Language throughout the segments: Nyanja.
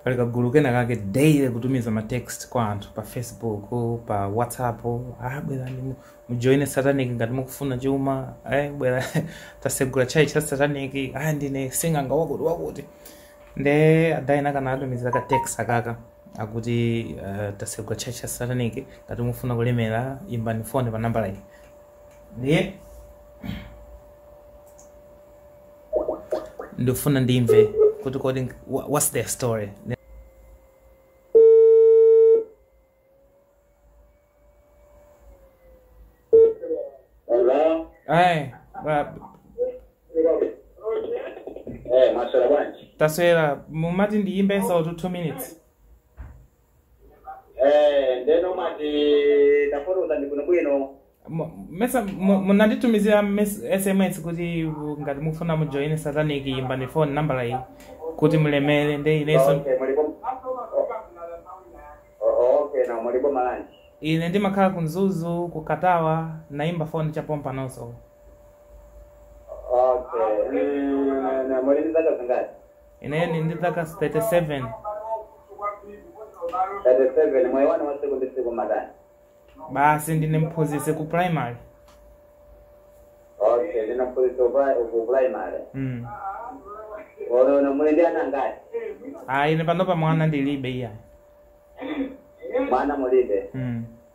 pali kagulu kena kake daily kutumiza ma text kwa anthu pa facebook pa whatsapp ah bwerani mu- mujoine satanic ngati mukufuna chuma eh bwera tasegula church ya satanic ah ndine sing'anga wakuti wakuti nde adaina kanaa atumiza ka text akaka akuti uh, tasegula church ya satanic ngati mukufuna kulemera imbani foni pa nambala iyi ndiye ndifuna ndimve kuti kodi wha- what's their story Hello? ayi ba- Eh, maswera bwanji? taswera mumati ndiyimbenso 2 minutes Eh, ndeno mwati tafotokozani bwinobwino Mu- mesa mu- munanditumizira mes- sms kuti uh, ngati mufuna mujoine satanic imbani phone nambala iyi kuti mulemere nde ineso Okay, mulipo Oh, okay na mulipo malanji ine ndimakhala ku mzuzu ku katawa naimba phone cha pompanoso okay Mm, na- na muli ndi zaka zingati ine ndi ndi zaka 37 37 moyo wanu wasiku ndi siku mumatani basi ndine mphunzitsi ku primary okay ndimaphunzitsa ku primary mm. ono muli ndi ana angati ah, ine panopa mwana ndilibe iya mwana mulibe mm.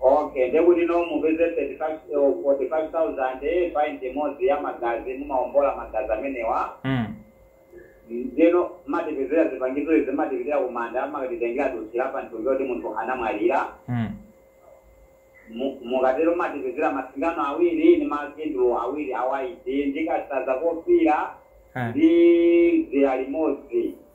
okay ndiye kuti no mupeze 35 eh, 45000 pint imodzi ya magazi mumaombola magazi amenewa mm. ndeno mumatipezera zipangizo izi mumatipitira kumanda mumakatitengera dothi la pamtumbu woti munthu anamwalira Mm. Mu- mukatero mumatipezera masingano awiri ndi makandulo awiri awaiti ndi kansanza kofira Eh. ndi dzira limodzi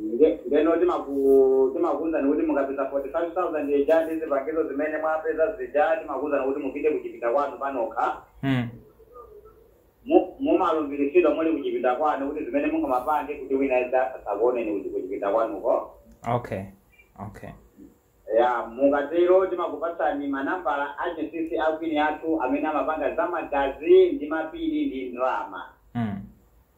Nde- ndeno timaku- timakuwuzani kuti mukapeza 45000 ija ndi zipangizo zimene mwapeza zija timakuwuzani kuti mupite kuchipinda kwanu panokha Mm. Mu- mumalumbiritsidwa muli kuchipinda kwanu kuti zimene mungamapange kuti wina aliyense asakuoneni kuchipinda kwanuko Okay. Okay. ya mukatero timakupatsani manambala achinsinsi a kwini athu amene amapanga za magazi ndi mapiri ndi ndalama Mm.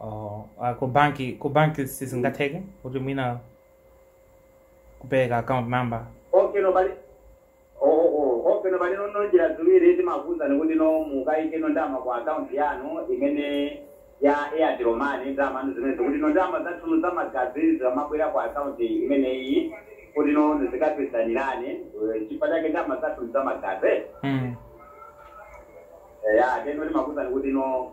Oh, ah, ku banki ku banki sizingatheke kuti mwina kupereka account number okay no bali oh, oh, oh, okay pali no njira ziwiri timakuwuzani kuti no mukayike no ndama ku account yanu imene ya airtel money ndama zimene kuti no ndama zathu za magazi zimabwera ku account imeneyi kuti no zizikapezanirana chifukwa chake ndama zathu za magazi mm. ya teno timakuwuzani kuti no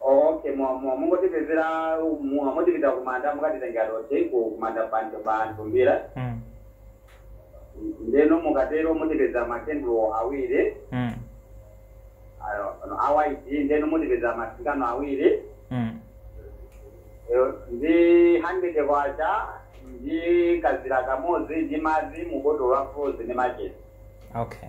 okay mwa- mwa- mungotipezera mu- mutipita kumanda mukatitengera dothi ku kumanda bantu bantumbira Mm. ndeno mukatero mutipeza makendulo awiri Mm. ayo, ano, a white ndeno mutipeza masingano awiri Mm. Yo, ndi 100 kwacha ndi kazira kamodzi ndi madzi mubotolo la frozy ndi machesi Okay.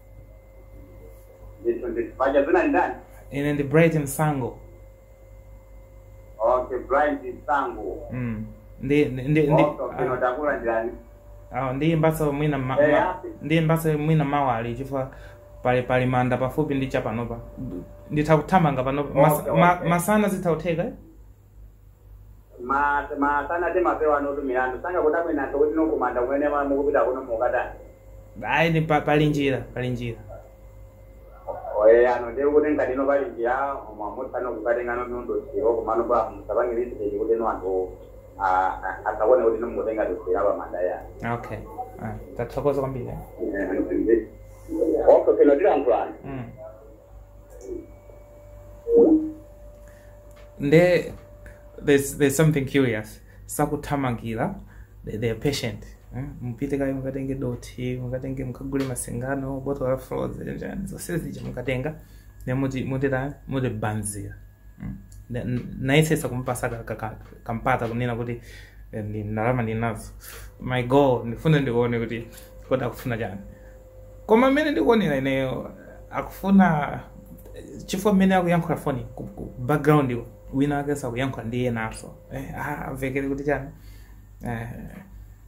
ndithu ndithu paja dzina ndani ine ndi bright msango okay bright msango mm. ndi ndi ndi ndi okay mwatakula ndani awo ndi mbatso mwina ma, Eh, ma, api. ndi mbatso mwina mawa ali chifukwa pali pali manda pafupi ndi chapanopa nditha kuthamanga panopa Mas, Okay, ma, okay. masana zitha kutheka eh? ma masana timapewa anthu milandu sangakudabweni anthu kuti nkumanda kumene ma- mukupita kuno mukatani ayi ni pa- pali njira pali njira oye ano ndiye kuti ngati ino pali njira mwamutsano kukatenga nondondosiro kumano pa musapange lisiteti kuti no anthu ah, ah, kuti nomukutenga dosira pamanda ya okay Ah, tathokoza kwambiri eh? oso sino tilankhulana Mm. nde there's, there's something curious sakuthamangira they, they are patient eh? mupite kaye mukatenge dothi mukatenge mukagule masingano botolo la frozy nchani zonse zija mukatenga ne muti mutita mutibazira Mm. Na- n- nayesesa kumpasa ka- ka- ka- kampata kunena kuti eh, ndi ndalama ndinazo my goal ndifuna ndione kuti kodi akufuna chani koma mmene ndikuonera ineyo akufuna chifukwa mmene akuyankhula foni ku- ku background yo, wina wake sakuyankhula ndi enanso eh, ah, amvekere kuti chani eh,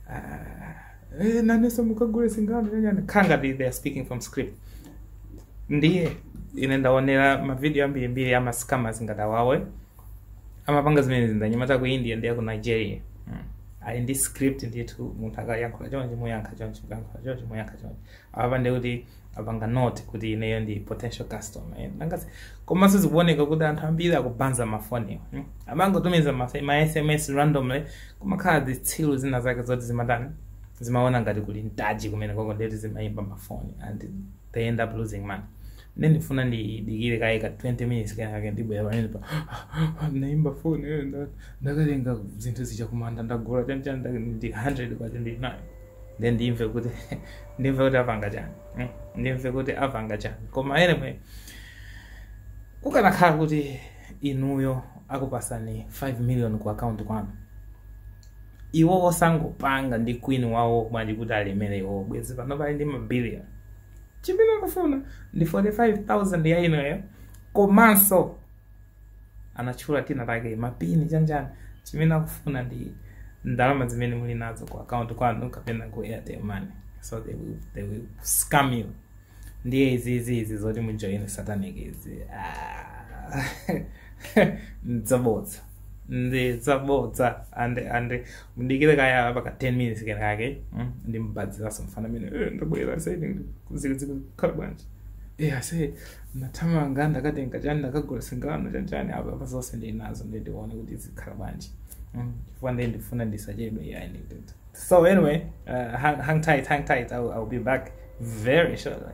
ah, eh, nanenso mukagule singano chanichani kukhala ngati they are speaking from script ndiye ine ndaonera mavidiyo ambirimbiri ama scammers ngati awawe amapanga zimene zi ndi anyamata ku india ndi aku nigeria mm. ali ndi script ndithu munthu akayankhula chonchi muyankha chonchi mukayankhula chonchi muyankha chonchi apa ndi kuti apanga note kuti ineyo ndi potential customer eh, nangasi komanso zikuoneka kuti anthu ambiri akubaza mafoniwo hmm? amangotumiza mafe- ma sms randomly kumakhala zitsilu zina zake zoti zimatani zimaona ngati kuli mtaji kumenekoko nde kuti zimayimba mafoni and they end up losing money Ine ndifuna ndidikire kaye ka 20 minutes kenako ndibwera pamene pano ndiimba phone eh, nda- ndakatenga zinthu zija kumanda ndagula chanchani ndake ndi 100 kwacha ndi nayo then ndimve kuti ndimve kuti apanga chani eh, ndimve kuti apanga chani koma anyway kukanakhala kuti inuyo akupasani 5 million ku account kwanu iwo osangopanga ndi queen wawo bwanji kuti alemere iwo bwezi panopa ali ndi mabilion chimene akufuna ndi 45000 ya ineyo komanso anatchula tinatake mapini chanichani chimene akufuna ndi ndalama zimene muli nazo ku account kwanu kapena ku airtel money so they will, they will scam you ndiye izizi izi zoti mujoine satanic izi ah, ndzabodza ndi zabodza and and mundidikire kaya paka 10 minutes kenaka mm, ndimbadziraso mfana amene eh, ndabwera saidi zikhala bwanji eh ase nathamanga ndakatenga chani ndakagula singano chanchani apa apa zonse ndi nazo ndi ndione kuti zikhala bwanji mm, chifukwa ndi ndifuna ndisachedwe yeah, ndi ndi so anyway uh, hang, hang tight hang tight I'll, I'll be back very shortly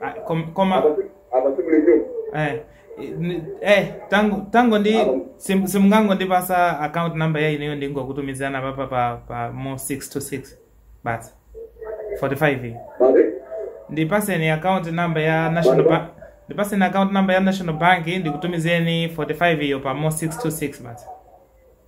Ah, kom- koma apa si- apa sibulekeni eh, ni- eh, tangu tangu ndi Alo. sim- simungangondipasa account number ya ineyo ndingokutumizana papa pa pa mo 6 to 6 basi 45 iyi mare ndipaseni account number ya national Bye-bye. bank ndipaseni account number ya national bank ndikutumizeni 45 iyo pa mo 6 to 6 basi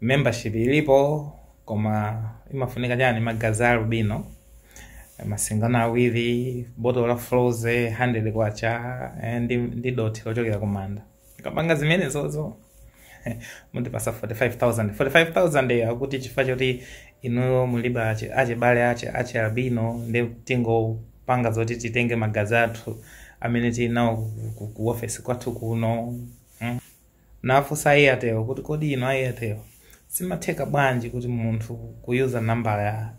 membership ilipo koma imafunika chani magazi a albino masingano awiri botolo la frozy 100 kwacha eh, ndi, ndi dothi lochokera kumanda mukapanga zimenezozo mundipatsa 45000 45000 iyo akuti chifukwa choti inuyo mulibe achi- achibale achi achi albino ndi tingopanga zoti titenge magazi athu amene tinawo ku- ku- ku ofesi kwathu kuno Nafunsa Airtel kuti kodi inu Airtel zimatheka bwanji kuti munthu kuyuza namba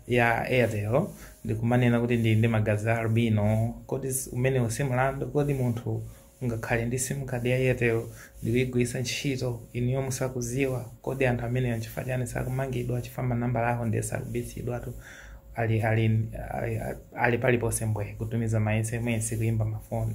ya Airtel ndikumanena kuti ndili ndi magazi a albino? Kodi umenewu si mlandu? Kodi munthu ungakhale ndi sim card ya Airtel ndikuyigwiritsa ntchito inuyo musakuziwa? Kodi anthu amenewa nchifukwa chani sakumangidwa chifukwa manambala awo ndiye sakubitsidwatu ali ali ali, ali paliponse mbwe kutumiza ma SMS kuyimba mafoni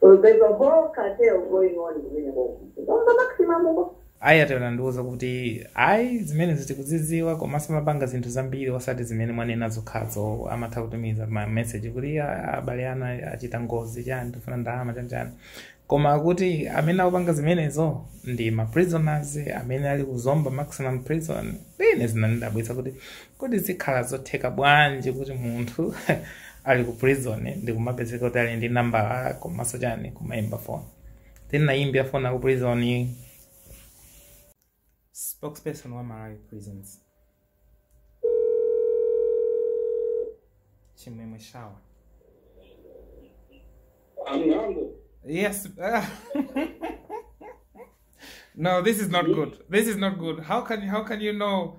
So there's a whole cartel going on kumenekoko. Ku Zomba maximum uko. ayi atero andiuza kuti ayi zimenezo tikuziziwa komanso amapanga zinthu zambiri osati zimene mwanena zokhazo amatha kutumiza ma message kuti "Ah, abale anu achita ngozi chani tifuna ndalama chanchani koma akuti amene akupanga zimenezo ndi ma prisoners amene ali ku Zomba maximum prison ine zinandidabwitsa kuti kodi zikhala zotheka bwanji kuti munthu ali ku prison ndikumapezeka kuti ali ndi nambala komanso chani kumayimba phone tinayimbira phone aku prison spokesperson wa malawi prisons chimwemwe shawa Amnambo. yes no this is not good this is not good how can how can you know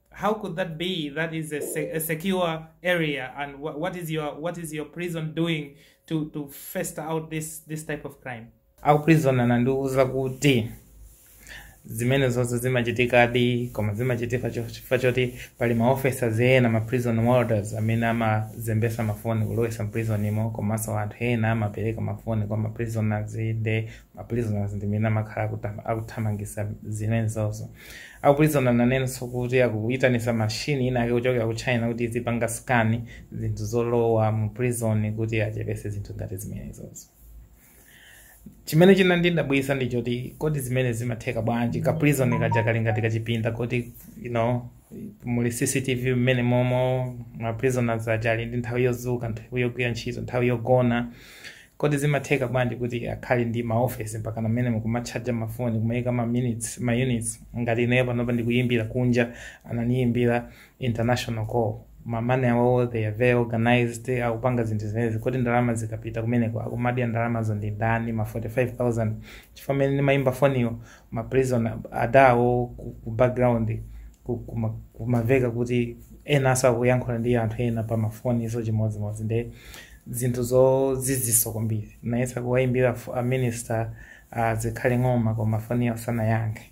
how could that be that is a, se a secure area and wh what is your what is your prison doing to to fester out this this type of crime akuprizona nandiuza kuti zimenezozo zimachitikadi koma zimachitika cho- chifukwa choti pali maofficers ena ma prison warders amene amazembesa mafoni kulowesa mprisonmo komanso anthu ena amapereka mafoni kwa maprisoners nde maprisoners ndimene amakhala akutam- akuthamangisa zimenezozo akuprizona nanenso kuti akuitanisa machine inaake kuchokera ku china kuti izipanga scan zinthu zolowa mu prison kuti achepetse zinthu ngati zimenezozo chimene chinandidabwisa ndi choti kodi zimenezi zimatheka bwanji ka prison kaja kali ngati kachipinda koti you know muli cctv mmene momo ma prisoners aja ali ndi nthawi yodzuka nthawi yogwira ntchito nthawi yogona Kodi zimatheka bwanji kuti akhale ndi ma office mpakana mmenemu kumatchaja ma phone kumaika ma minutes, ma units ngati ineyo panopa ndikuyimbira kunja anandiyimbira international call mamuna awowo they are very organized akupanga zinthu zimenezi kodi ndalama zikapita kumeneko akumadya ndalamazo ndi ndani ma 45000 chifukwa mmene ndimayimba foniyo ma prisoner awo ku, ku background ku- kuma- kumaveka kuti enanso akuyankhula ndi anthu ena pa mafoni izo chimodzimodzi nde zinthu zoziziritsa kwambiri nayesa kuwayimbira fu- a minister a Zikhale Ng'oma koma foni yawo sanayankhe